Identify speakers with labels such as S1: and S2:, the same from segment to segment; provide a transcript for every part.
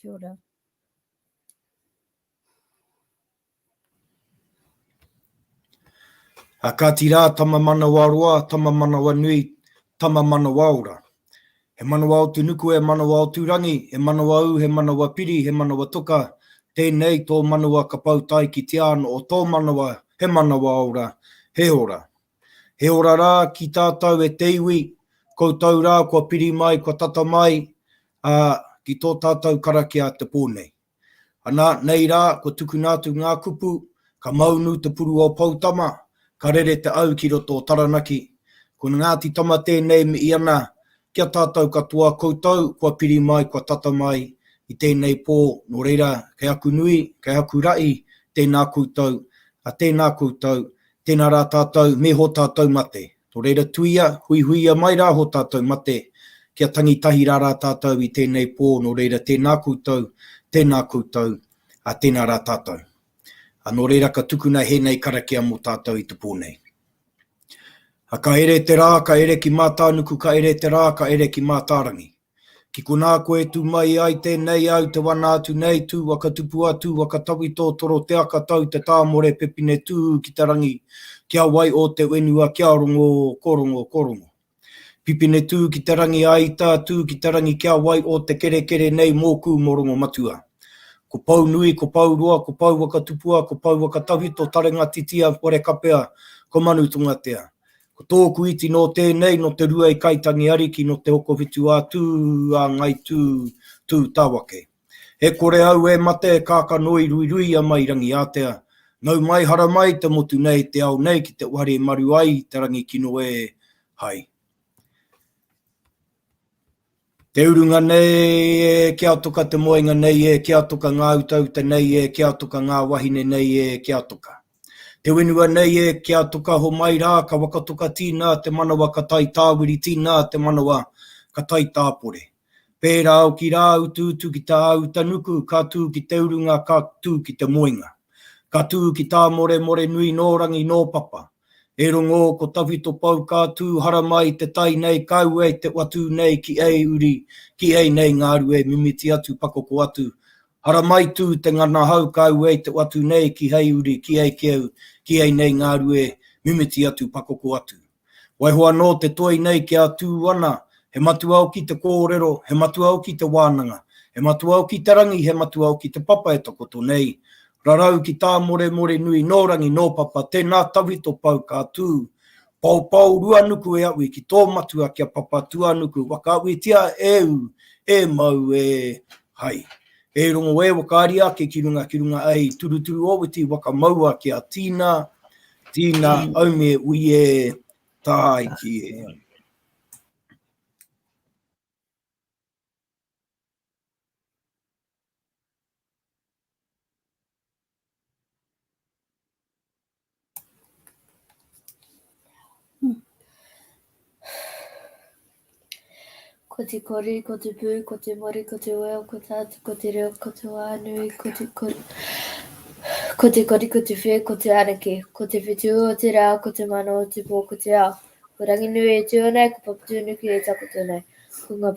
S1: Kia ora.
S2: A Kāti Rā, Tama Manawaroa, Tama Manawanui, Tama Manawaora. He manawa o te nuku, he manawa o Tūrangi, he manawa ū, he manawa piri, he manawa toka, tēnei tō manawa ka pau tae ki te āno o tō manawa, he manawaora, he ora. He ora rā ki tātou e te iwi, koutou rā kua piri mai, kua tata mai, ā, ki tō tātou karakia a te pō nei. Anā, nei rā, kua tukuna atu ngā kupu, ka maunu te puru o Poutama, ka rere te au ki roto o Taranaki. Ko Ngāti Tama tēnei me i ana, ki a tātou katoa, koutou kua piri mai, kua tata mai i tēnei pō, nō reira, kei aku nui, kei aku raʻi, tēnā koutou, tēnā koutou, Tēnā rā tātou, me ho tātou mate. Nō reira tuia, huihuia mai rā ho tātou mate, kia tangi tahi rā rā tātou i tēnei pō, nō reira tēnā koutou, tēnā koutou, ā, tēnā rā tātou. Ā, nō reira ka tukuna hēnei karakia mō tātou i te pō nei. Ā, ka ere te rā, ka ere ki Mātānuku, ka ere te rā, ka ere ki Mātārangi. Ki konā koe e tū mai ai tēnei au te wana atu nei tū waka tupu a tū waka tawi tō toro te aka tau te tāmore pepine tūhū ki te rangi kia wai ō te whenua kia rongo ko rongo ko rongo pipine tū ki te rangi a ita tū ki te rangi kia wai ō te kerekere nei mōkū mō rongo matua ko pou nui ko pou roa ko pou waka tupua ko pou waka tawi tō tarenga titia wharekapea ko manu tongatea Ko tōku iti nō tēnei, nō Te Rua i Kaitangi Ariki, nō Te Hokowhitu a Tū, a Ngai Tū, Tū Tawake. He kore au e mate, e kākano i ruirui a Mai Rangiātea. Nau mai hara mai te motu nei, te ao nei ki te whare maru ai te rangi kino ē, hai. Te urunga nei e, ki a toka te moenga nei e, ki a toka ngā utauta nei e, ki a toka ngā wahine nei e, ki a toka. Te whenua nei e, ki a toka homai rā, ka wakatoka tīnā te manawa ka tae tāwiri tīnā te manawa ka tae tāpore. Pērā oki rā utuutu ki tā Utanuku ka tū ki te urunga ka tū ki te moenga. Ka tū ki tā Moremore nui nō rangi nō papa. E rongō ko tawhito pou ka tū haramai te tai nei kau ei te watū nei ki ei uri ki ei nei ngāru e mimiti atu pakoko atu haramai tū te ngana hau kau ei te watū nei ki hei uri ki ei keu ki ei nei ngāru e mimiti atu pakoko atu waiho anō te toi nei kia tū ana he matua oki te kōrero he matua oki te wānanga he matua oki te rangi he matua oki te papa e takoto nei Rarau ki Tāmoremore nui nō rangi nō papa tēnā tawhito pau ka tū Paopao Ruanuku e aui ki tō matua kia papa Tuanuku whakaawitia e ū e mau e Hai e rongo e wakaari ake ki runga ki runga ei turuturu owiti waka maua kia tīna tīna aume ui e Tāiki e.
S1: Ko te kori, ko te pū, ko te mori, ko te weo, ko te atu, ko te reo, ko te wānui, ko te kori. Ko te kori, ko te whē, ko te araki, ko te whitu o te rā, ko te mano o te pō, ko te ao. Ko Ranginui e tū ana, ko Papatūnuku e takoto nei. Ko ngā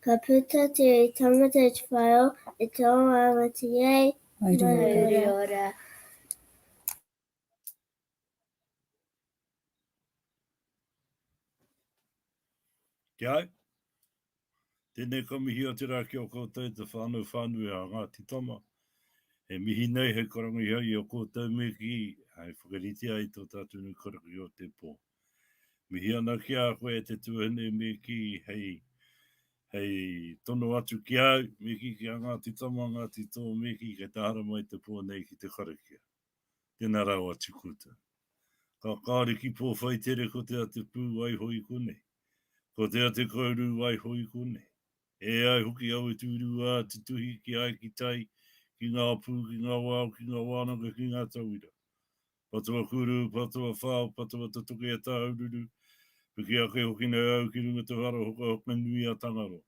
S3: Ka puta te iwi tangata i te whare o E te o ngā ngati nei, Mauriora.
S4: Ki ai. Tēnei ka mihi a te rā ki a koutou e te whānau whānui a Ngāti Tama. E mihi nei hei karangiha i a koutou me kī, hei whakaritea i tō tātou nei karakia o te pō. Mihi ana ki a koe e te tuahine me kī hei hei tono atu ki au, me kī ki a Ngāti Tama, Ngāti Tō, me kī kei te haramai te pō nei ki te karakia. Tēnā rawa atu koutou. Ka kāore ki Pōwhaitere ko te a Te Pū waiho i konei, ko te a Te Kourū waiho i konei. E ai hoki au e tūrūā te tuhi ki ai ki tai, ki ngā pū, ki ngā wao, ki ngā wānanga, ki ngā tauira. Patua kuru, patua whao, patua tutuki e Tāhururu, piki ake hoki nei au ki runga te whara hokahoka nui a Tangaroa.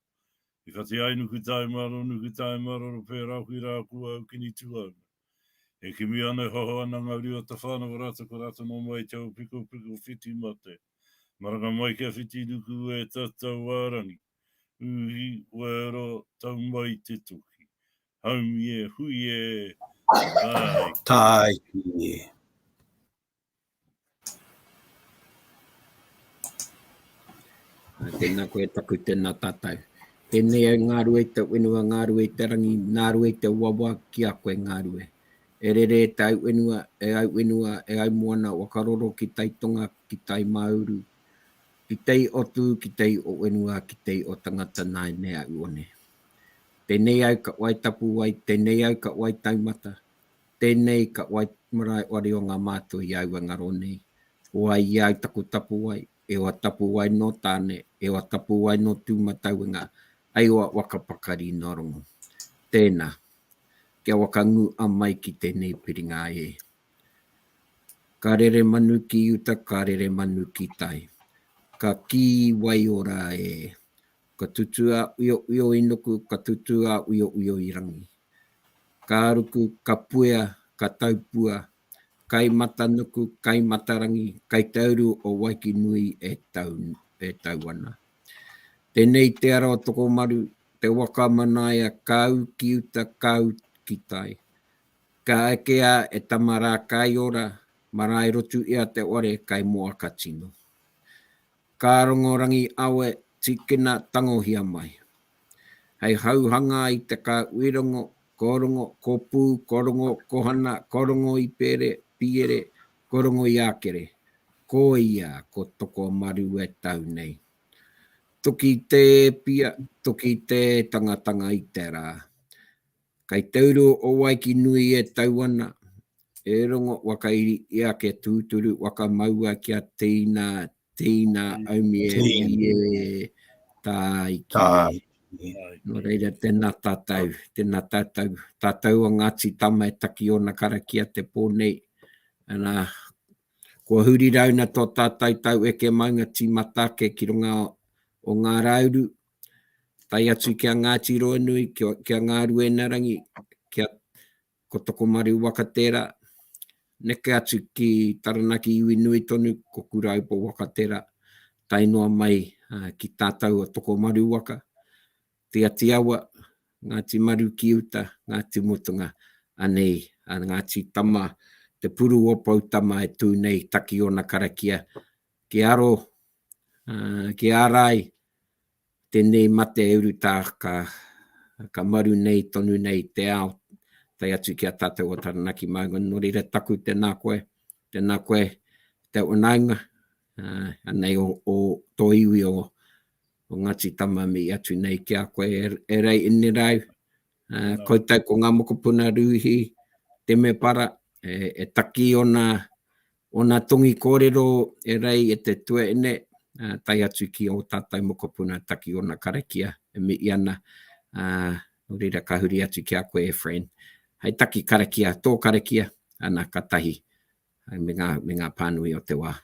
S4: I whati ai nuku tae maro, nuku tae maroro pērā hoki rā ko au kini tuauna. E kimi ana e hoho ana ngā rua tawhānau rātou ko rātou nō mai te ao pikopiko whiti mate. Maranga mai kia whiti nuku e tatau ā rangi, uhi, wero, tau mai te toki. Home e, hui e, tāiki.
S5: Tāiki e. Tēnā koe taku tēnā tātou. Tēnei au ngā rue te wenua, ngā rue te rangi, ngā rue te wawa ki a koe ngā rue. E rere e te au wenua, e au wenua, e au moana, wakaroro ki tai tonga, ki tai māuru, ki tei o tū, ki tei o wenua, ki tei o tangata nāi nei au one. Tēnei au ka wai tapu wai, tēnei au ka wai taumata, tēnei ka wai marae wari o ngā mātua i aua ngaro nei. Ko ai i au taku tapu wai, e oa tapu wai nō Tāne, e oa tapu wai nō Tūmatauenga, ai oa waka pakari nō Rongo. Tēnā, kia waka ngū a mai ki tēnei piringa e. Ka rere manu ki uta, ka rere manu ki tai. Ka kī waiora e, Ka tutū a Uiouio i nuku, ka tutū a Uiouio i rangi. Ka ruku, ka puea, ka taupua, kai matanuku, kai matarangi, kai tauru o Waikinui e tau, e tau ana. Tenei te ara o Tokomaru, te waka a Manaia, ka u ki uta, ka u ki tai. Ka eke a e tama ra kai ora, marae rotu ia te ware kai moa ka tino. Ka rongo rangi awe tīkina tangohia mai. Hei hauhanga i te ka uirongo, ko rongo, ko pū, ko rongo, ko hana, ko rongo i pēre, pīere, ko rongo i ākere. Ko ia ko Tokomaru e tau nei. Toki te e pia, toki te e tangatanga i te rā. Kai te uru o Waiki nui e tau ana, e rongo wakairi i ake tūturu wakamaua kia teina, teina aumie ie tāiki. Nō reira, tēnā tātou, tēnā tātou, tātou a Ngāti Tama e taki ōna karakia te pō nei. Ana, kua huri rauna tō tātou taueke maunga tīmata ake ki runga o ngā rāuru, tae atu ki a Ngāti Roanui, ki a Ngāruenarangi, ki a ko Tokomaru waka tērā, neke atu ki Taranaki iwi nui tonu, ko Kurāupo waka tērā, tae noa mai ki tātau a Tokomaru waka, Tiati Awa, Ngāti Maru ki uta, Ngāti Mutunga, anei a Ngāti Tama, te puru o Poutama e tū nei, Takiona karakia, ki aro Ki ārai, tēnei mate e urutā ka maru nei tonu nei te ao, tae atu ki a tātou o Taranaki māua. Nō reira taku tēnā koe, tēnā koe te whanaunga, anei o tō iwi o Ngāti Tamāmii atu nei ki a koe e Rei Inirau, koutou ko ngā mokopuna Rūhī Temepara e takī ōna Ōna tongi kōrero e rei e te tuaine, tae atu ki ō tātou mokopuna taki ōna karakia e mihi ana, ā, nō reira ka huri atu ki a koe e Fran. Hai taki karakia, tō karakia, ana ka tahi, me ngā, me ngā pānui o te wā.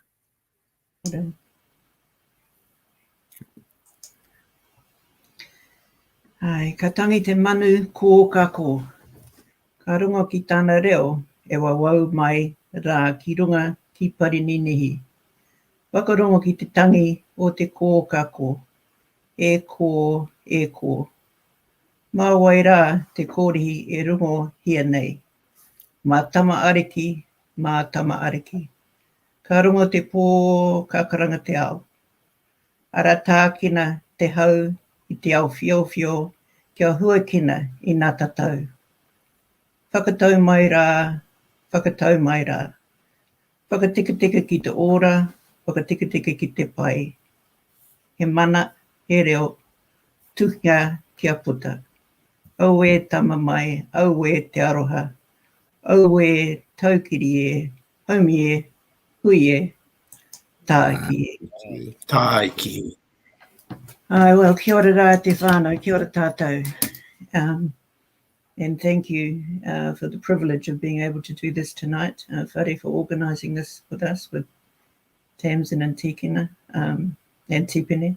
S6: Ae, ka tangi te manu ko ka ko. Ka rongo ki tana reo e wawau mai ra ki runga ki Parininihi. Whakarongo ki te tangi o te ko ka ko. E ko, e ko. Ma wai ra te korihi e rongo hia nei? Ma Tama Ariki, ma Tama Ariki. Ka rongo te pō, ka karanga te ao. Ara tākina te hau i te ao whiowhio kia huakina i nā tatau. Whakatau mai rā, whakatau mai rā. Whakateketeke ki te ora, whakateketeke ki te pai. He mana, he reo, tuhia kia puta. Auē tama mai, auē te aroha, Auē, Taukiri e, Haumi e, Hui e, Tāiki e. Tāiki e. Aye, well, kia ora rā te whānau, kia ora tātou. Um, and thank you uh, for the privilege of being able to do this tonight. Uh, whare for organising this with us, with Tamsin and Tikina um, and Tipene.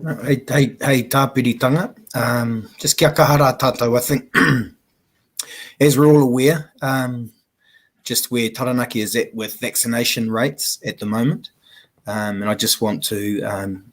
S2: Hei, hei, hei tāpiritanga, um, just kia kaha rā tātou, I think, as we're all aware, um, just where Taranaki is at with vaccination rates at the moment, um, and I just want to um,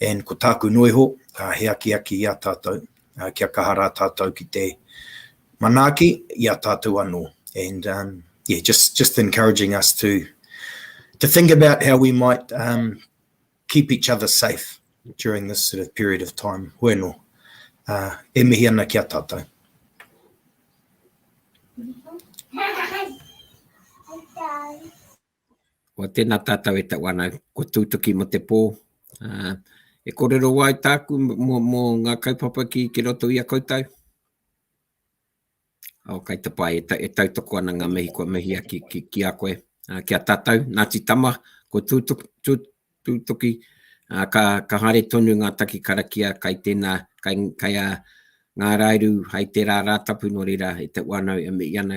S2: and ko tāku noiho, he akiaki i a tātou, kia kaha rā tātou ki te manaaki i a tātou anō. And um, yeah, just, just encouraging us to, to think about how we might um, keep each other safe during this sort of period of time. Bueno, uh, e mihi ana ki a tātou.
S5: Kua tena tatou e tau ana kua tutuki mo te po. E korero ai taku mo nga kaupapa ki roto ia koutou. O kai te pai e tautoko ana nga mihi kua mihi a ki a koe. Ki a tatou, Ngati Tama, kua tutuki, ka hare tonu nga taki karakia kai tena, kai a nga Rairu hai tera Ratapu no reira e tau ana e mihi ana.